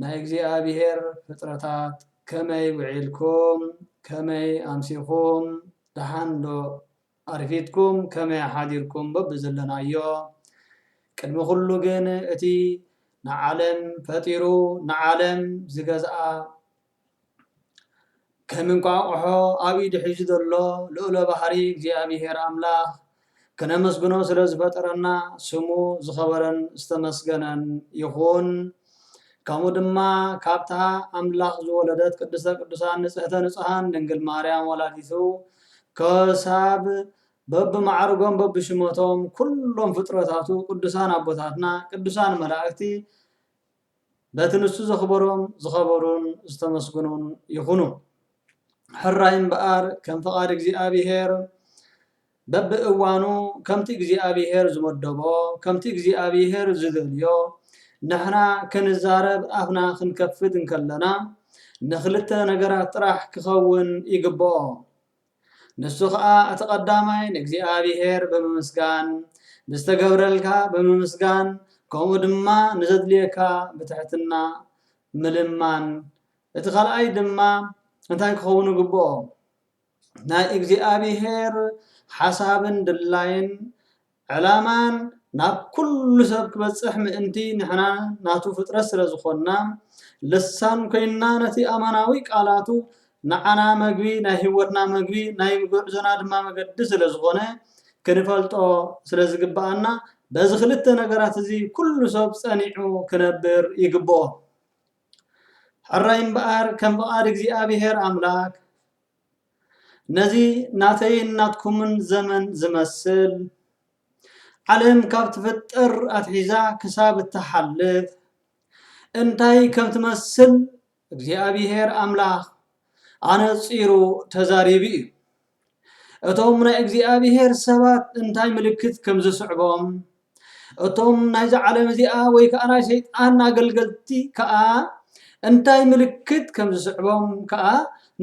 ናይ እግዚኣብሔር ፍጥረታት ከመይ ውዒልኩም ከመይ ኣምሲኩም ደሓን ዶ ኣርፊድኩም ከመይ ሓዲርኩም በብዘለናዮ ቅድሚ ኩሉ ግን እቲ ንዓለም ፈጢሩ ንዓለም ዝገዝኣ ከም እንቋቑሖ ኣብ ኢዱ ሒዙ ዘሎ ልኡለ ባህሪ እግዚኣብሄር ኣምላኽ ከነመስግኖ ስለ ዝፈጠረና ስሙ ዝኸበረን ዝተመስገነን ይኹን። ከምኡ ድማ ካብታ ኣምላኽ ዝወለደት ቅድስተ ቅዱሳን ንጽሕተ ንጹሓን ድንግል ማርያም ወላዲቱ ከሳብ በብማዕርጎም በብሽመቶም ኩሎም ፍጥረታቱ ቅዱሳን ኣቦታትና ቅዱሳን መላእክቲ በቲ ንሱ ዘኽበሮም ዝኸበሩን ዝተመስገኑን ይኹኑ። ሕራይ እምበኣር ከም ፍቓድ እግዚኣብሄር በብእዋኑ ከምቲ እግዚኣብሄር ዝመደቦ ከምቲ እግዚኣብሄር ዝደልዮ ንሕና ክንዛረብ ኣፍና ክንከፍት እንከለና ንኽልተ ነገራት ጥራሕ ክኸውን ይግበኦ። ንሱ ኸኣ እቲ ቀዳማይ ንእግዚኣብሄር ብምምስጋን፣ ብዝተገብረልካ ብምምስጋን ከምኡ ድማ ንዘድልየካ ብትሕትና ምልማን፣ እቲ ካልኣይ ድማ እንታይ ክኸውን ይግብኦ ናይ እግዚኣብሄር ሓሳብን ድላይን ዕላማን ናብ ኩሉ ሰብ ክበጽሕ ምእንቲ ንሕና ናቱ ፍጥረት ስለ ዝኾንና ልሳን ኮይንና ነቲ ኣማናዊ ቃላቱ ንዓና መግቢ ናይ ሕይወትና መግቢ ናይ ጉዕዞና ድማ መገዲ ስለ ዝኾነ ክንፈልጦ ስለ ዝግብኣና በዚ ክልተ ነገራት እዚ ኩሉ ሰብ ጸኒዑ ክነብር ይግብኦ ሕራይ እምበኣር ከም ፍቓድ እግዚኣብሔር ኣምላክ ነዚ ናተይን ናትኩምን ዘመን ዝመስል፣ ዓለም ካብ ትፍጠር ኣትሒዛ ክሳብ እትሓልፍ እንታይ ከም ትመስል እግዚኣብሄር ኣምላኽ ኣነጺሩ ተዛሪቡ እዩ። እቶም ናይ እግዚኣብሄር ሰባት እንታይ ምልክት ከም ዝስዕቦም እቶም ናይዛ ዓለም እዚኣ ወይ ከኣ ናይ ሰይጣን ኣገልገልቲ ከኣ እንታይ ምልክት ከም ዝስዕቦም ከኣ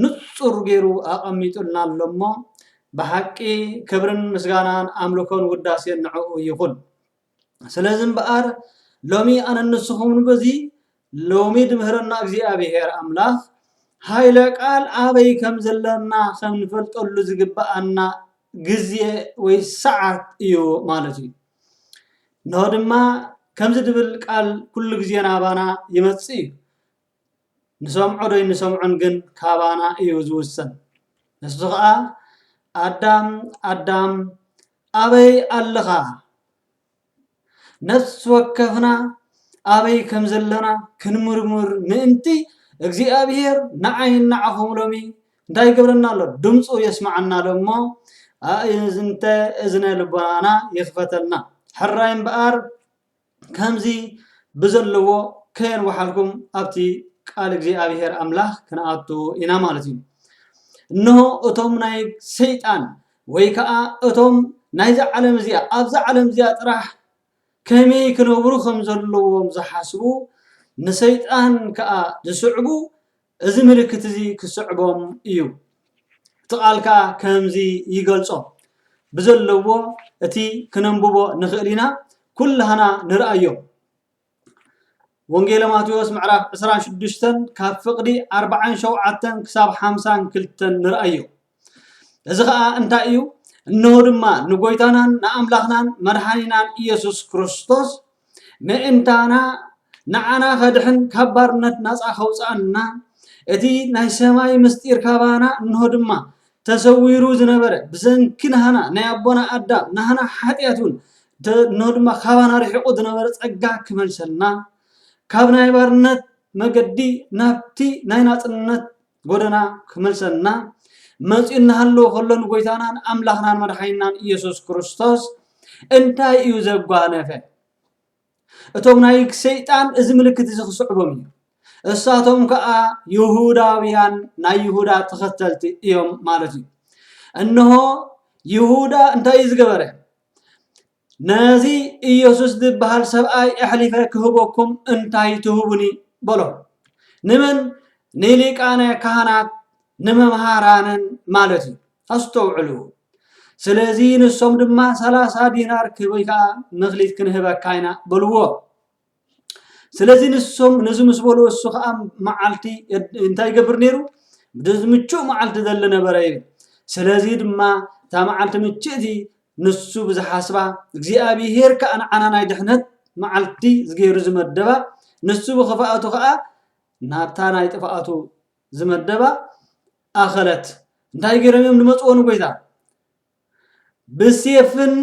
ንጹር ገይሩ ኣቐሚጡልና ኣሎ እሞ ብሓቂ ክብርን ምስጋናን ኣምልኮን ውዳሴን ንዕኡ ይኹን። ስለዚ እምበኣር ሎሚ ኣነን ንስኹምን በዚ ሎሚ ድምህረና እግዚኣብሔር ኣምላክ ሃይለ ቃል ኣበይ ከም ዘለና ከም ንፈልጠሉ ዝግብኣና ግዜ ወይ ሰዓት እዩ ማለት እዩ እንሆ ድማ ከምዚ ድብል ቃል ኩሉ ግዜ ናባና ይመጽእ እዩ ንሰምዖ ዶ ንሰምዖን ግን ካባና እዩ ዝውሰን ንሱ ከዓ ኣዳም ኣዳም ኣበይ ኣለኻ ነፍሲ ወከፍና ኣበይ ከም ዘለና ክንምርምር ምእንቲ እግዚኣብሔር ንዓይን ንዓኹም ሎሚ እንታይ ይገብረና ኣሎ? ድምፁ የስምዓና ኣሎ እሞ ኣእዝንተ እዝነ ልቦናና ይኽፈተልና። ሕራይ እምበኣር ከምዚ ብዘለዎ ከየንወሓልኩም ኣብቲ ቃል እግዚኣብሔር ኣምላኽ ክንኣቱ ኢና ማለት እዩ። እነሆ እቶም ናይ ሰይጣን ወይ ከኣ እቶም ናይዛ ዓለም እዚኣ ኣብዛ ዓለም እዚኣ ጥራሕ ከመይ ክነብሩ ከም ዘለዎም ዝሓስቡ ንሰይጣን ከኣ ዝስዕቡ እዚ ምልክት እዚ ክስዕቦም እዩ። እቲ ቃል ከኣ ከምዚ ይገልጾ ብዘለዎ እቲ ክነንብቦ ንኽእል ኢና ኩላህና ንርኣዮ። ወንጌለ ማቴዎስ ምዕራፍ ዕስራን ሽዱሽተን ካብ ፍቕዲ ኣርብዓን ሸውዓተን ክሳብ ሓምሳን ክልተን ንርኣዮ እዚ ከዓ እንታይ እዩ እነሆ ድማ ንጎይታናን ንኣምላኽናን መድሓኒናን ኢየሱስ ክርስቶስ ምእንታና ንዓና ከድሕን ካብ ባርነት ናፃ ከውፅኣና እቲ ናይ ሰማይ ምስጢር ካባና እንሆ ድማ ተሰዊሩ ዝነበረ ብሰንኪ ናህና ናይ ኣቦና ኣዳም ናህና ሓጢኣት እውን እነሆ ድማ ካባና ርሒቑ ዝነበረ ጸጋ ክመልሰልና ካብ ናይ ባርነት መገዲ ናብቲ ናይ ናጽነት ጎደና ክመልሰልና መጺኡ እናሃለወ ከሎ ንጎይታናን ኣምላኽናን መድሓኒናን ኢየሱስ ክርስቶስ እንታይ እዩ ዘጓነፈ? እቶም ናይ ሰይጣን እዚ ምልክት እዚ ክስዕቦም እዩ። እሳቶም ከዓ ይሁዳውያን ናይ ይሁዳ ተኸተልቲ እዮም ማለት እዩ። እነሆ ይሁዳ እንታይ እዩ ዝገበረ? ነዚ ኢየሱስ ዝበሃል ሰብኣይ ኣሕሊፈ ክህበኩም እንታይ ትህቡኒ በሎ። ንመን? ንሊቃነ ካህናት ንመምሃራንን ማለት እዩ። ኣስተውዕሉ። ስለዚ ንሶም ድማ ሰላሳ ዲናር ክብ ወይ ከዓ መክሊት ክንህበካ ኢና በልዎ። ስለዚ ንሶም ነዚ ምስ በልዎ እሱ ከዓ መዓልቲ እንታይ ይገብር ነይሩ ብዚ ምቹእ መዓልቲ ዘለ ነበረ እዩ። ስለዚ ድማ እታ መዓልቲ ምችእቲ ንሱ ብዝሓስባ እግዚኣብሄር ከዓ ንዓና ናይ ድሕነት መዓልቲ ዝገይሩ ዝመደባ ንሱ ብክፍኣቱ ከዓ ናብታ ናይ ጥፍኣቱ ዝመደባ ኣኸለት እንታይ ገይሮም እዮም ዝመፅዎ ንጎይታ ብሴፍን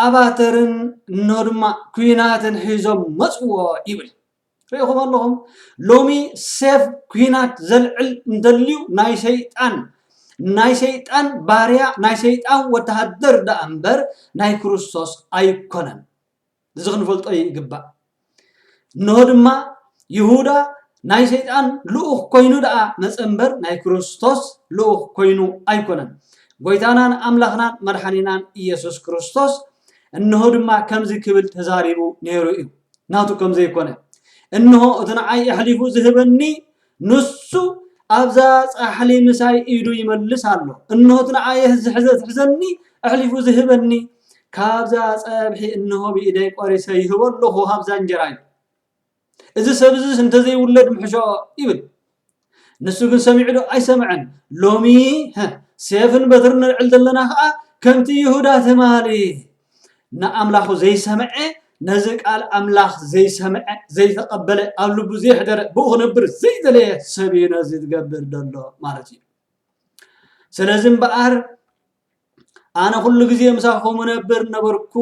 ኣባተርን እነሆ ድማ ኩናትን ሒዞም መፅዎ ይብል ሪኢኹም ኣለኹም ሎሚ ሴፍ ኩናት ዘልዕል እንተልዩ ናይ ሰይጣን ናይ ሰይጣን ባርያ ናይ ሰይጣን ወተሃደር ደኣ እምበር ናይ ክርስቶስ ኣይኮነን እዚ ክንፈልጦ ይግባእ። እንሆ ድማ ይሁዳ ናይ ሰይጣን ልኡኽ ኮይኑ ደኣ መጸ እምበር ናይ ክርስቶስ ልኡኽ ኮይኑ ኣይኮነን። ጐይታናን ኣምላኽናን መድሓኒናን ኢየሱስ ክርስቶስ እንሆ ድማ ከምዚ ክብል ተዛሪቡ ነይሩ እዩ፣ ናቱ ከም ዘይኮነ እንሆ እቲ ንዓይ ኣሕሊፉ ዝህበኒ ንሱ ኣብዛ ጻሕሊ ምሳይ ኢዱ ይመልስ ኣሎ። እንሆት ንኣየህ ዝሕዘኒ ኣሕሊፉ ዝህበኒ። ካብዛ ጸብሒ እንሆ ብኢደይ ቆሪሰ ይህቦ ኣለኹ ካብዛ እንጀራ ኢሉ። እዚ ሰብ እዝስ እንተዘይውለድ ምሕሾ ይብል። ንሱ ግን ሰሚዑ ዶ ኣይሰምዐን። ሎሚ ሴፍን በትርን ነልዕል ዘለና ኸኣ ከምቲ ይሁዳ ትማሊ ንኣምላኹ ዘይሰምዐ ነዚ ቃል ኣምላኽ ዘይሰምዐ ዘይተቐበለ ኣብ ልቡ ዘይሕደረ ብኡ ክነብር ዘይደለየ ሰብ እዩ ነዚ ዝገብር ዘሎ ማለት እዩ ስለዚ እምበኣር ኣነ ኩሉ ግዜ ምሳኹም ነብር ነበርኩ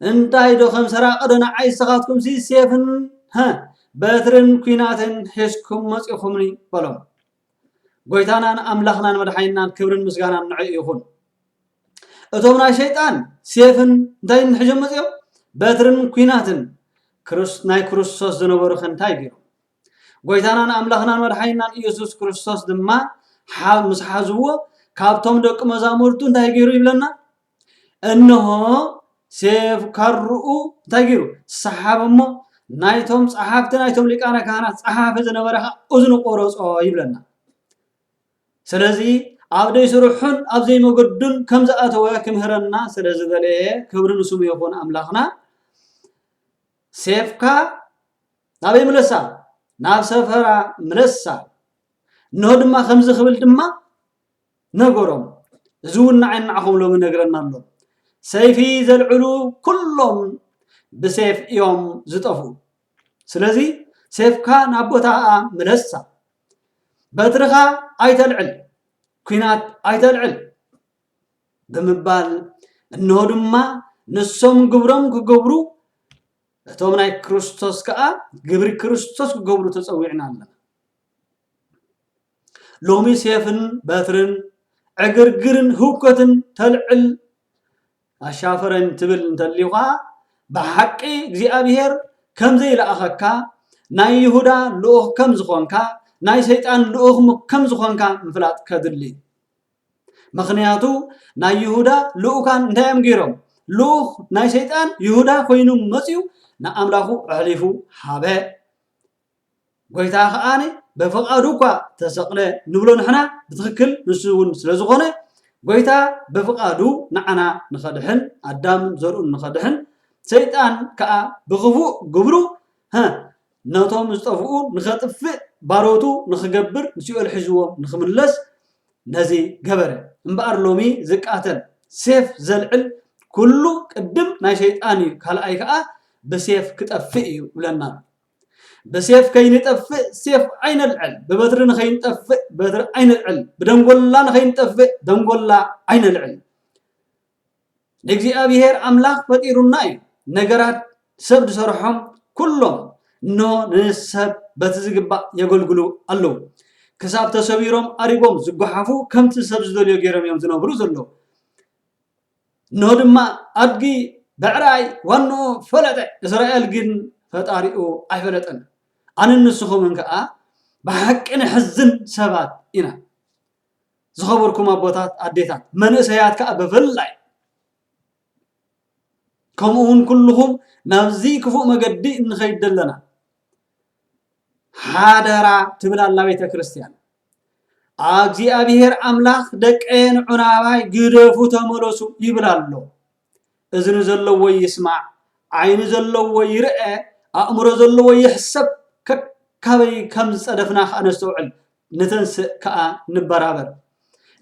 እንታይ ዶ ከም ሰራቂ ዶ ንዓይ ንስኻትኩም ሲ ሴፍን በትርን ኩናትን ሒዝኩም መፂኹምኒ በሎም ጎይታናን ኣምላኽናን መድሓኒናን ክብርን ምስጋናን ንዕኡ ይኹን። እቶም ናይ ሸይጣን ሴፍን እንታይ ንሕጆም መፅኦም በትርን ኩናትን ናይ ክርስቶስ ዝነበሩ ከ እንታይ ገይሮም ጎይታናን ኣምላኽናን መድሓኒናን ኢየሱስ ክርስቶስ ድማ ምስ ሓዝዎ ካብቶም ደቂ መዛሙርቱ እንታይ ገይሩ ይብለና እንሆ ሴፍ ካርኡ እንታይ ገይሩ ሰሓብ እሞ ናይቶም ጸሓፍቲ ናይቶም ሊቃነ ካህናት ጸሓፊ ዝነበረ ኸዓ እዝኑ ቆረጾ ይብለና ስለዚ ኣብ ደይ ስርሑን ኣብ ዘይመገዱን ከም ዝኣተወ ክምህረና ስለ ዝበለየ ክብሪ ንስሙ ይኹን ኣምላኽና ሴፍካ ናበይ ምለሳ ናብ ሰፈራ ምለሳ እንሆ ድማ ከምዚ ክብል ድማ ነገሮም እዚ ውን ንዓይ ንዓኹም ሎሚ ይነግረና ኣሎ ሰይፊ ዘልዕሉ ኩሎም ብሴፍ እዮም ዝጠፍኡ ስለዚ ሴፍካ ናብ ቦታኣ ምለሳ በትርኻ ኣይተልዕል ኩናት ኣይተልዕል ብምባል እነሆ ድማ ንሶም ግብሮም ክገብሩ እቶም ናይ ክርስቶስ ከዓ ግብሪ ክርስቶስ ክገብሩ ተፀዊዕና ኣለና ሎሚ ሴፍን በትርን ዕግርግርን ህውከትን ተልዕል ኣሻፈረኝ ትብል እንተሊኻ ብሓቂ እግዚኣብሔር ከም ዘይለኣኸካ ናይ ይሁዳ ልኡኽ ከም ዝኾንካ ናይ ሰይጣን ልኡኽ ከም ዝኾንካ ምፍላጥ ከድሊ ምክንያቱ ናይ ይሁዳ ልኡካን እንታይ እዮም ገይሮም ልኡኽ ናይ ሰይጣን ይሁዳ ኮይኑ መፅኡ ንኣምላኹ ኣሕሊፉ ሃበ ጎይታ ከኣ በፍቃዱ እኳ ተሰቅለ ንብሎ ንሕና ብትክክል ንሱ ዉን ስለ ዝኮነ ጎይታ በፍቃዱ ንዓና ንከድሕን ኣዳምን ዘርኡን ንከድሕን ሰይጣን ከኣ ብክፉእ ግብሩ ነቶም ዝጠፍኡ ንከጥፍእ ባሮቱ ንክገብር ንሲኦል ሒዝዎም ንክምለስ ነዚ ገበረ እምበኣር ሎሚ ዝቃተል ሴፍ ዘልዕል ኩሉ ቅድም ናይ ሰይጣን እዩ ካልኣይ ከኣ ብሴፍ ክጠፍእ እዩ ይብለና ኣሎ። ብሴፍ ከይንጠፍእ ሴፍ ኣይነልዕል፣ ብበትሪ ንኸይንጠፍእ በትሪ ኣይነልዕል፣ ብደንጎላ ንኸይንጠፍእ ደንጎላ ኣይነልዕል። ንእግዚኣብሔር ኣምላኽ ፈጢሩና እዩ። ነገራት ሰብ ዝሰርሖም ኩሎም እንሆ ንሰብ በቲ ዝግባእ የገልግሉ ኣለዉ። ክሳብ ተሰቢሮም ኣሪጎም ዝጓሓፉ ከምቲ ሰብ ዝደልዮ ገይሮም እዮም ዝነብሩ ዘለዉ። እነሆ ድማ ኣድጊ ብዕራይ ዋንኡ ፈለጠ፣ እስራኤል ግን ፈጣሪኡ ኣይፈለጠን። ኣነን ንስኹምን ከኣ ብሓቂ ነሕዝን ሰባት ኢና። ዝኸበርኩም ኣቦታት፣ ኣዴታት፣ መንእሰያት ከኣ ብፍላይ ከምኡ እውን ኩልኹም ናብዚ ክፉእ መገዲ እንኸይድ ዘለና ሓደራ ትብል ኣላ ቤተ ክርስቲያን እግዚኣብሔር ኣምላኽ ደቀየን ዑናባይ ግደፉ ተመለሱ ይብል ኣሎ እዝኒ ዘለዎ ይስማዕ ዓይኒ ዘለዎ ይርአ ኣእምሮ ዘለዎ ይሕሰብ ከካበይ ከም ዝፀደፍና ከዓ ነስተውዕል ንተንስእ ከኣ ንበራበር።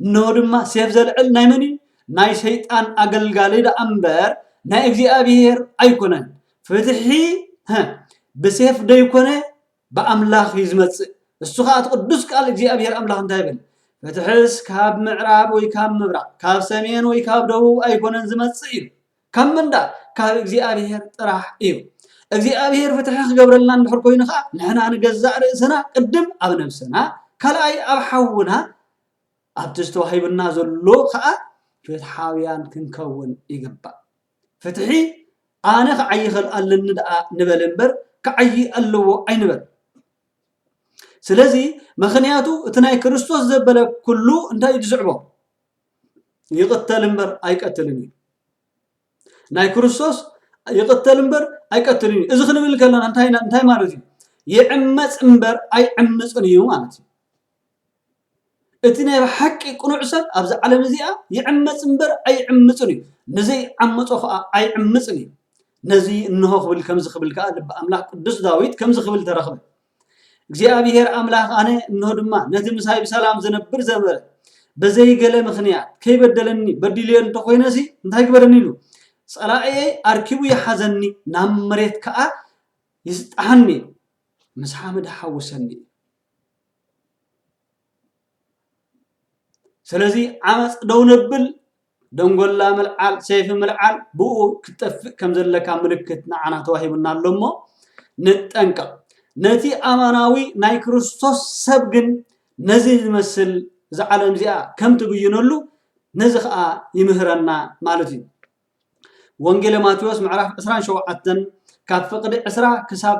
እነሆ ድማ ሴፍ ዘልዕል ናይ መን እዩ? ናይ ሰይጣን ኣገልጋሊ ደኣ እምበር ናይ እግዚኣብሄር ኣይኮነን። ፍትሒ ብሴፍ ደይኮነ ብኣምላኽ እዩ ዝመጽእ። እሱ ከዓ እቲ ቅዱስ ቃል እግዚኣብሔር ኣምላኽ እንታይ ይብል ፍትሕስ ካብ ምዕራብ ወይ ካብ ምብራቅ ካብ ሰሜን ወይ ካብ ደቡብ ኣይኮነን ዝመጽእ እዩ ካብ ምንዳእ ካብ እግዚኣብሔር ጥራሕ እዩ። እግዚኣብሔር ፍትሒ ክገብረልና እንድሕር ኮይኑ ከዓ ንሕና ንገዛእ ርእስና ቅድም ኣብ ነብስና ካልኣይ ኣብ ሓውና ኣብቲ ዝተዋሂቡና ዘሎ ከዓ ፍትሓውያን ክንከውን ይግባእ። ፍትሒ ኣነ ክዓይ ይኽእል ኣለኒ ደኣ ንበል እምበር ክዓይ ኣለዎ ኣይንበል። ስለዚ ምክንያቱ እቲ ናይ ክርስቶስ ዘበለ ኩሉ እንታይ እዩ ዝስዕቦ? ይቕተል እምበር ኣይቀትልን እዩ ናይ ክርስቶስ ይቕተል እምበር ኣይቀትልን እዩ እዚ ክንብል ከለና እንታይ ማለት እዩ ይዕመፅ እምበር ኣይዕምፅን እዩ ማለት እዩ እቲ ናይ ሓቂ ቅኑዕ ሰብ ኣብዚ ዓለም እዚኣ ይዕመፅ እምበር ኣይዕምፅን እዩ ንዘይዓመፆ ከዓ ኣይዕምፅን እዩ ነዚ እንሆ ክብል ከምዚ ክብል ከዓ ልቢ ኣምላክ ቅዱስ ዳዊት ከምዚ ክብል ተረክበ እግዚኣብሄር ኣምላኽ ኣነ እንሆ ድማ ነቲ ምሳይ ብሰላም ዝነብር ዘንበረ በዘይ ገለ ምኽንያት ከይበደለኒ በዲልዮ እንተኾይነሲ እንታይ ግበረኒ ኢሉ ጸላእየይ ኣርኪቡ ይሓዘኒ ናብ መሬት ከዓ ይስጣሓኒ ምስ ሓመድ ሓውሰኒ ስለዚ ዓመፅ ደው ነብል ደንጎላ ምልዓል ሰይፊ ምልዓል ብኡ ክትጠፍእ ከም ዘለካ ምልክት ንዓና ተዋሂቡና ኣሎ እሞ ንጠንቀቕ ነቲ ኣማናዊ ናይ ክርስቶስ ሰብ ግን ነዚ ዝመስል እዛ ዓለም እዚኣ ከም ትብይነሉ ነዚ ከዓ ይምህረና ማለት እዩ ወንጌለ ማቴዎስ ምዕራፍ 27 ካብ ፍቕዲ 20 ክሳብ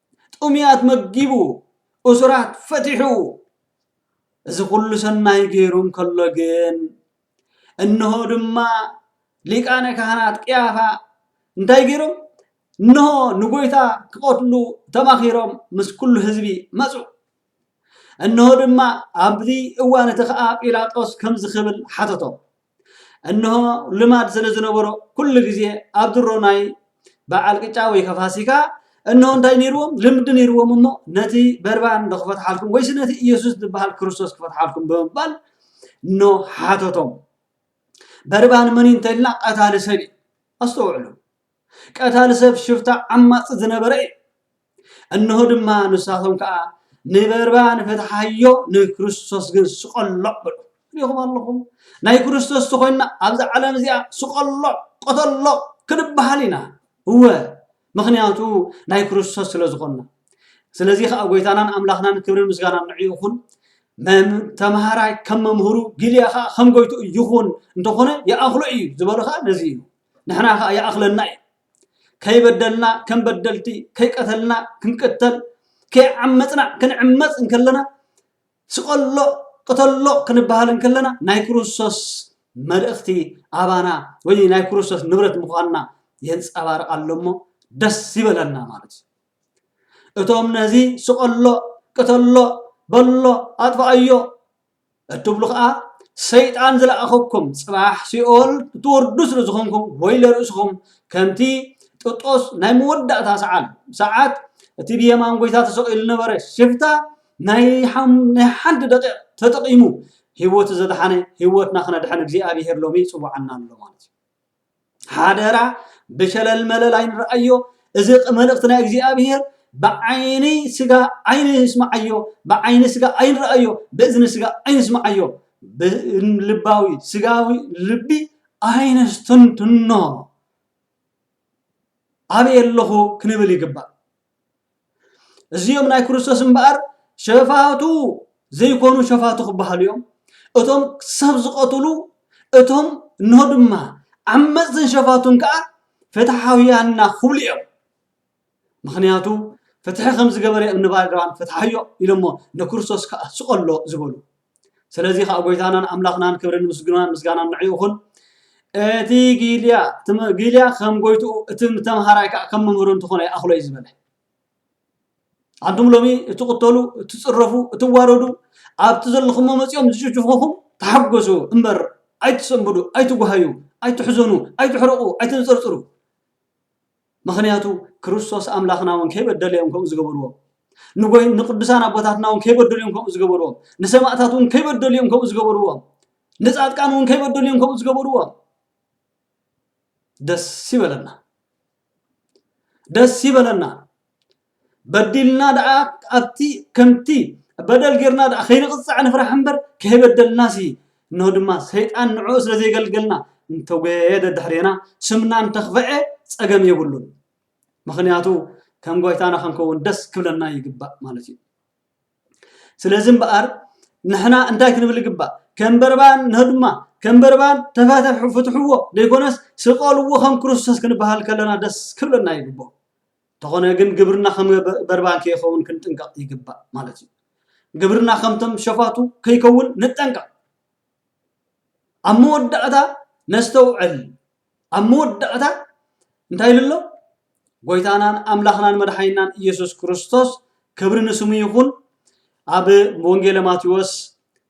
ጥሙያት መጊቡ፣ እሱራት ፈቲሑ፣ እዚ ኹሉ ሰናይ ገይሩ እንከሎ ግን እንሆ ድማ ሊቃነ ካህናት ቅያፋ እንታይ ገይሮም? እንሆ ንጎይታ ክቐትሉ ተማኺሮም ምስ ኩሉ ህዝቢ መጹ። እንሆ ድማ ኣብዚ እዋን እቲ ኸኣ ጲላጦስ ከምዚ ክብል ሓተቶ፣ እንሆ ልማድ ስለ ዝነበሮ ኩሉ ግዜ ኣብ ድሮ ናይ በዓል ቅጫ ወይ ከፋሲካ እንሆ እንታይ ነይርዎም ልምዲ ነይርዎም እሞ ነቲ በርባን ዶ ክፈትሓልኩም ወይስ ነቲ ኢየሱስ ዝበሃል ክርስቶስ ክፈትሓልኩም ብምባል ኖ ሓተቶም። በርባን መን እንተልና ቀታሊ ሰብ እዩ። ኣስተውዕሉ። ቀታሊ ሰብ ሽፍታ ዓማጺ ዝነበረ እዩ። እነሆ ድማ ንሳቶም ከኣ ንበርባ ንፈትሓዮ ንክርስቶስ ግን ስቀሎ በሉ። ሪኹም ኣለኹም ናይ ክርስቶስ ተኾይንና ኣብዚ ዓለም እዚኣ ስቀሎ ቀተሎ ክንበሃል ኢና እወ ምክንያቱ ናይ ክርስቶስ ስለ ዝኾንና ስለዚ ከዓ ጎይታናን ኣምላኽናን ክብሪ ምስጋና ንዕ ይኹን ተምሃራይ ከም መምህሩ ጊልያ ከዓ ከም ጎይቱ ይኹን እንተኾነ ይኣኽሎ እዩ ዝበሉ ከዓ ነዚ እዩ ንሕና ከኣ ይኣኽለና እዩ። ከይበደልና ከም በደልቲ፣ ከይቀተልና ክንቅተል፣ ከይዓመጽና ክንዕመጽ እንከለና፣ ስቐሎ ቅተሎ ክንበሃል እንከለና ናይ ክርስቶስ መልእኽቲ ኣባና ወይ ናይ ክርስቶስ ንብረት ምዃንና የንጸባርቕ ኣሎ እሞ ደስ ይበለና ማለት እዩ። እቶም ነዚ ስቐሎ ቅተሎ በሎ ኣጥፍኣዮ እትብሉ ከኣ ሰይጣን ዝለኣኸኩም ጽባሕ ሲኦል ክትወርዱ ስለ ዝኾንኩም ወይለ ርእስኹም ከምቲ ጥጦስ ናይ መወዳእታ ሰዓል ሰዓት እቲ ብየማን ጎይታ ተሰቒሉ ነበረ ሽፍታ ናይ ናይ ሓንቲ ደቂቕ ተጠቒሙ ህይወቱ ዘድሓነ ህይወትና ክነድሕን እግዚኣብሄር ሎሚ ይጽውዓና ኣሎ ማለት እዩ ሓደራ ብሸለል መለል ኣይንርኣዮ እዚ መልእኽቲ ናይ እግዚኣብሔር ብዓይኒ ስጋ ኣይንስምዓዮ ብዓይኒ ስጋ ኣይንርኣዮ ብእዝኒ ስጋ ኣይንስምዓዮ ብልባዊ ስጋዊ ልቢ ኣይነስተንትኖ ኣበይ ኣለኹ ክንብል ይግባእ። እዚኦም ናይ ክርስቶስ እምበኣር ሸፋቱ ዘይኮኑ ሸፋቱ ክበሃሉ እዮም። እቶም ሰብ ዝቐትሉ እቶም እኖ ድማ ዓመፅትን ሸፋቱን ከዓ ፍትሓውያን ኢና ክብሉ እዮም። ምኽንያቱ ፍትሒ ከምዝገበረ እምኒ ባርያም ፍትሓዮ ኢሎሞ ንክርስቶስ ከዓ ስቐሎ ዝበሉ። ስለዚ ከኣ ጎይታናን ኣምላኽናን ክብርን ምስግናን ምስጋናን ንዕኡ ይኹን እቲ ጊልያ ጊልያ ከም ጎይትኡ እቲ ተምሃራይ ከኣ ከም መምህሩ እንትኾነ ይኣኽሎ እዩ ዝበለ ኣንቱም ሎሚ እትቕተሉ እትፅረፉ እትዋረዱ ኣብቲ ዘለኹሞ መፂኦም ዝጭጭኹኹም ተሓጎሱ እምበር ኣይትሰንብዱ ኣይትጓሃዩ ኣይትሕዘኑ ኣይትሕረቑ ኣይተንፀርፅሩ ምኽንያቱ ክርስቶስ ኣምላኽና እውን ከይበደለ እዮም ከምኡ ዝገበርዎ። ንጎይ ንቅዱሳን ኣቦታትና እውን ከይበደሉ እዮም ከምኡ ዝገበርዎ። ንሰማእታት እውን ከይበደሉ እዮም ከምኡ ዝገበርዎ። ንጻድቃን እውን ከይበደሉ እዮም ከምኡ ዝገበርዎ። ደስ ይበለና ደስ ይበለና። በዲልና ደኣ ኣብቲ ከምቲ በደል ጌርና ደኣ ከይንቕጻዕ ንፍራሕ እምበር ከይበደልናሲ እነሆ ድማ ሰይጣን ንዕኡ ስለ ዘይገልገልና እንተጎየየ ደድሕሬና ስምና እንተኽፍዐ ጸገም የብሉን ምኽንያቱ ከም ጎይታና ክንከውን ደስ ክብለና ይግባእ ማለት እዩ ስለዚ እምበኣር ንሕና እንታይ ክንብል ይግባእ ከም በርባን ንሆ ድማ ከም በርባን ተፈትሑ ፍትሕዎ ዘይኮነስ ስቀልዎ ከም ክርስቶስ ክንበሃል ከለና ደስ ክብለና ይግብኦ እንተኾነ ግን ግብርና ከም በርባን ከይኸውን ክንጥንቀቕ ይግባእ ማለት እዩ። ግብርና ከምቶም ሸፋቱ ከይከውን ንጠንቀቕ። ኣብ መወዳእታ ነስተውዕል። ኣብ መወዳእታ እንታይ ኢሉ ኣሎ? ጎይታናን ኣምላኽናን መድሓኒናን ኢየሱስ ክርስቶስ ክብሪ ንስሙ ይኹን ኣብ ወንጌለ ማቴዎስ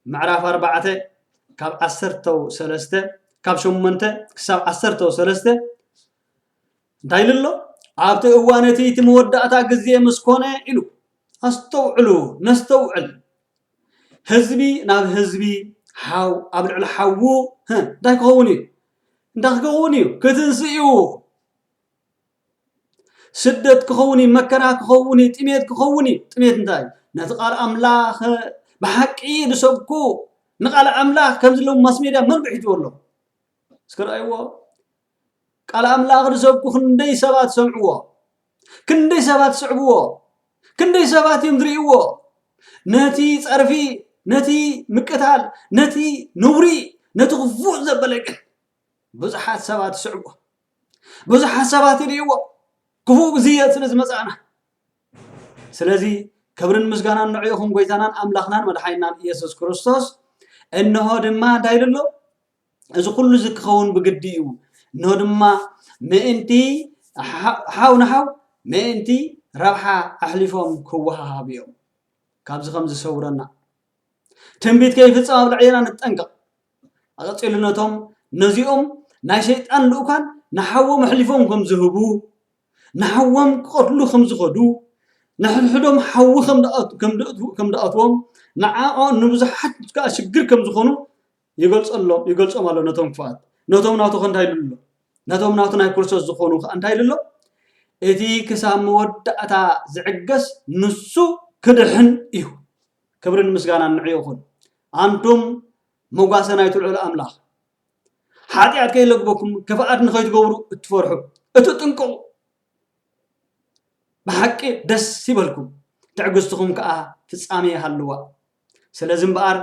ምዕራፍ ኣርባዕተ ካብ ዓሰርተው ሰለስተ ካብ ሸሞንተ ክሳብ ዓሰርተው ሰለስተ እንታይ ኢሉ ኣሎ? ኣብቲ እዋን እቲ እቲ መወዳእታ ግዜ ምስ ኮነ ኢሉ። ኣስተውዕሉ፣ ነስተውዕል። ህዝቢ ናብ ህዝቢ፣ ሓው ኣብ ልዕሊ ሓዉ እንታይ ክኸውን እዩ? እንታይ ክኸውን እዩ? ክትንስእ እዩ። ስደት ክኸውን እዩ፣ መከራ ክኸውን እዩ፣ ጥሜት ክኸውን እዩ። ጥሜት እንታይ እዩ? ነቲ ቃል ኣምላኽ ብሓቂ ዝሰብኩ ንቃል ኣምላኽ ከምዚ ሎም ማስ ሜድያ መን ብሒጅዎ ኣሎ እስከ ረኣይዎ ቃል ኣምላኽ ንሰብኩ ክንደይ ሰባት ሰምዕዎ? ክንደይ ሰባት ስዕብዎ? ክንደይ ሰባት እዮም ዝርእይዎ? ነቲ ጸርፊ፣ ነቲ ምቅታል፣ ነቲ ነውሪ፣ ነቲ ክፉእ ዘበለ ግን ብዙሓት ሰባት ይስዕብዎ፣ ብዙሓት ሰባት ይርእይዎ፣ ክፉእ ግዜ ስለ ዝመጻእና። ስለዚ ክብርን ምስጋናን ንዕኡ ይኹን ጎይታናን ኣምላኽናን መድሓኒናን ኢየሱስ ክርስቶስ። እንሆ ድማ እንታይ ኢሉ ኣሎ? እዚ ኩሉ እዚ ክኸውን ብግዲ እዩ። እንሆ ድማ ምእንቲ ሓው ንሓው ምእንቲ ረብሓ ኣሕሊፎም ክወሃሃቡ እዮም። ካብዚ ከምዚ ሰውረና። ትንቢት ከይፍጸም ኣብ ልዕሌና ንጠንቀቕ። ኣቐጺሉ ነቶም ነዚኦም ናይ ሰይጣን ልኡካን ንሓዎም ኣሕሊፎም ከም ዝህቡ ንሓዎም ክቐትሉ ከም ዝኸዱ ንሕድሕዶም ሓዊ ከም ድኣትዎም ንብዙሓት ከዓ ሽግር ከም ዝኾኑ ይገልጾ ኣሎ ይገልጾም ኣሎ ነቶም ክፉኣት ነቶም ናቱ ከ እንታይ ኢሉ ኣሎ ነቶም ናቱ ናይ ክርስቶስ ዝኾኑ ከ እንታይ ኢሉ ኣሎ እቲ ክሳብ መወዳእታ ዝዕገስ ንሱ ክድሕን እዩ ክብርን ምስጋናን ንዕኡ ይኹን ኣንቱም መጓሰ ናይቲ ልዑል ኣምላኽ ሓጢኣት ከይለግበኩም ክፍኣት ንኸይትገብሩ እትፈርሑ እትጥንቅቑ ብሓቂ ደስ ይበልኩም ትዕግስትኹም ከዓ ፍጻሜ ይሃልዋ ስለዚ እምበኣር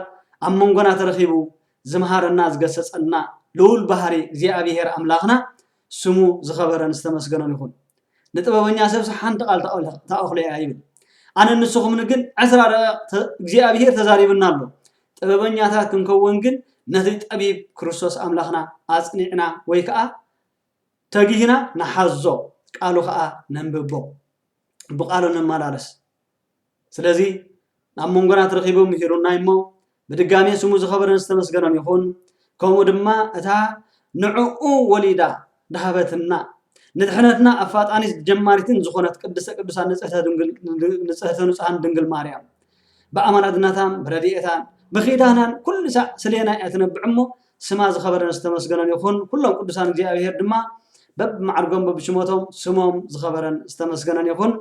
ኣብ መንጎና ተረኺቡ ዝምሃረና ዝገሰጸና ልኡል ባህሪ እግዚኣብሄር ኣምላኽና ስሙ ዝኸበረን ዝተመስገነን ይኹን። ንጥበበኛ ሰብሲ ሓንቲ ቃል ተኣኽሎ ኢያ ይብል። ኣነን ንስኹምን ግን ዕስራ ደቒቕ እግዚኣብሄር ተዛሪቡና ኣሎ። ጥበበኛታት ክንከውን ግን ነቲ ጠቢብ ክርስቶስ ኣምላኽና ኣጽኒዕና ወይ ከኣ ተጊህና ንሓዞ ቃሉ ከኣ ነንብቦ ብቃሉ ንመላለስ። ስለዚ ናብ መንጎና ተረኺቡ ምሂሩና እዩ እሞ ብድጋሜ ስሙ ዝኸበረን ዝተመስገነን ይኹን። ከምኡ ድማ እታ ንዕኡ ወሊዳ ድሃበትና ንድሕነትና ኣፋጣኒት ጀማሪትን ዝኾነት ቅድስተ ቅዱሳን ንጽህተ ድንግል ንጽህተ ንጹሃን ድንግል ማርያም ብኣማላድነታን ብረድኤታን ብኺዳናን ኩሉ ሳዕ ስሌና እያ ትነብዕ እሞ ስማ ዝኸበረን ዝተመስገነን ይኹን፣ ኩሎም ቅዱሳን እግዚኣብሄር ድማ በብማዕርጎም በብሽሞቶም ስሞም ዝኸበረን ዝተመስገነን ይኹን።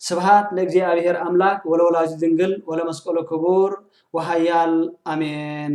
ስብሃት ለእግዚኣብሄር ኣምላክ ወለወላዲቱ ድንግል ወለመስቀሉ ክቡር ወሃያል ኣሜን።